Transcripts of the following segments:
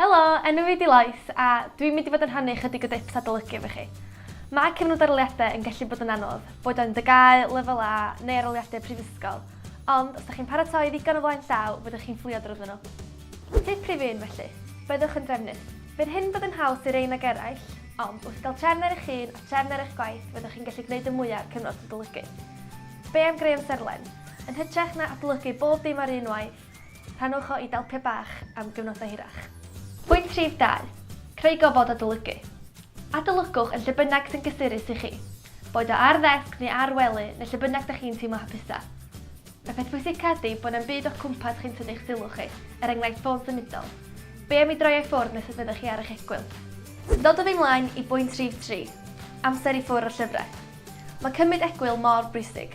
Helo, enw fi 'di Lois a dwi'n mynd i fod yn rhannu chydig o dips adolygu efo chi. Mae cyfnod aroliadau yn gallu bod yn anodd, boed o'n dy gae, lefel A neu aroliadau prifysgol, ond os da chi'n paratoi ddigon o flaen llaw fyddwch chi'n fflio drwyddo nhw. Tip prif un felly, byddwch yn drefnus. Bydd hyn bod yn haws i'r un ag eraill, ond wrth gael trefn ar eich hun a trefn ar eich gwaith fyddwch chi'n gallu gwneud y mwyaf o'r cyfnod adolygu. Be am greu amserlen? Yn hytrach na adolygu bob dim ar un waith, Rhannwch o i dalpiau bach am gyfnodau hirach. Pwynt rhif dau, Creu gofod adolygu. Adolygwch yn lle bynnag sy'n gysurus i chi, boed o ar ddesg neu ar wely neu lle bynnag da chi'n teimlo hapusa. Y peth pwysica ydy bod na'm byd o'ch cwmpas chi'n tynnu eich sylw chi, er enghraifft ffôn symudol. Be am i droi o i ffwrdd nes y byddwch chi ar eich egwyl? Dodwn ni mlaen i bwynt rhif tri, Amser i ffwrdd o'r llyfrau. Mae cymryd egwyl mor bwysig.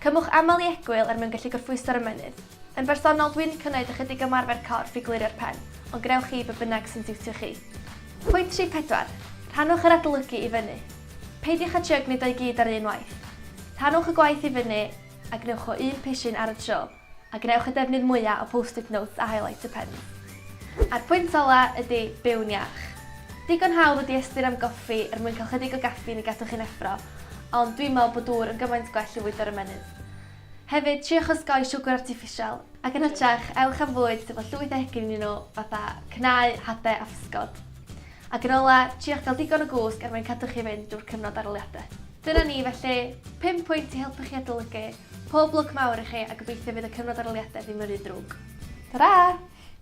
Cymwch aml i egwyl er mwyn gallu gorffwyso'r ymennydd. Yn bersonol, dwi'n cynnayd ychydig ymarfer corff i glirio'r pen, ond gnewch chi be bynnag sy'n siwtio chi. Pwynt rhif pedwar, rhannwch yr adolygu i fyny. Peidiwch â trio gwneud o i gyd ar un waith. Rhannwch y gwaith i fyny a gnewch o un pishyn ar y tro. A gwnewch y defnydd mwya o post-it notes a highlighter pens. A'r pwynt ola ydi, byw'n iach. Digon hawdd ydi ystyr am goffi er mwyn cael chydig o gaffîn i gadw chi'n effro, ond dwi'n me'wl bo dŵr yn gymaint gwell i fwydo'r ymennydd. Hefyd, triwch osgoi siwgr artiffisial. Ac yn hytrach, ewch am fwyd sydd â llwyth o egin ynnyn nhw, fatha cnau, hade a physgod. Ac yn ola, triwch gael digon o gwsg er mwyn cadw chi fynd drwy'r cyfnod arholiade. Dyna ni, felly, pum pwynt i helpu chi adolygu. Pob lwc mawr i chi a gobeithio fydd y cyfnod aroliade ddim yn rhy drwg. Tara!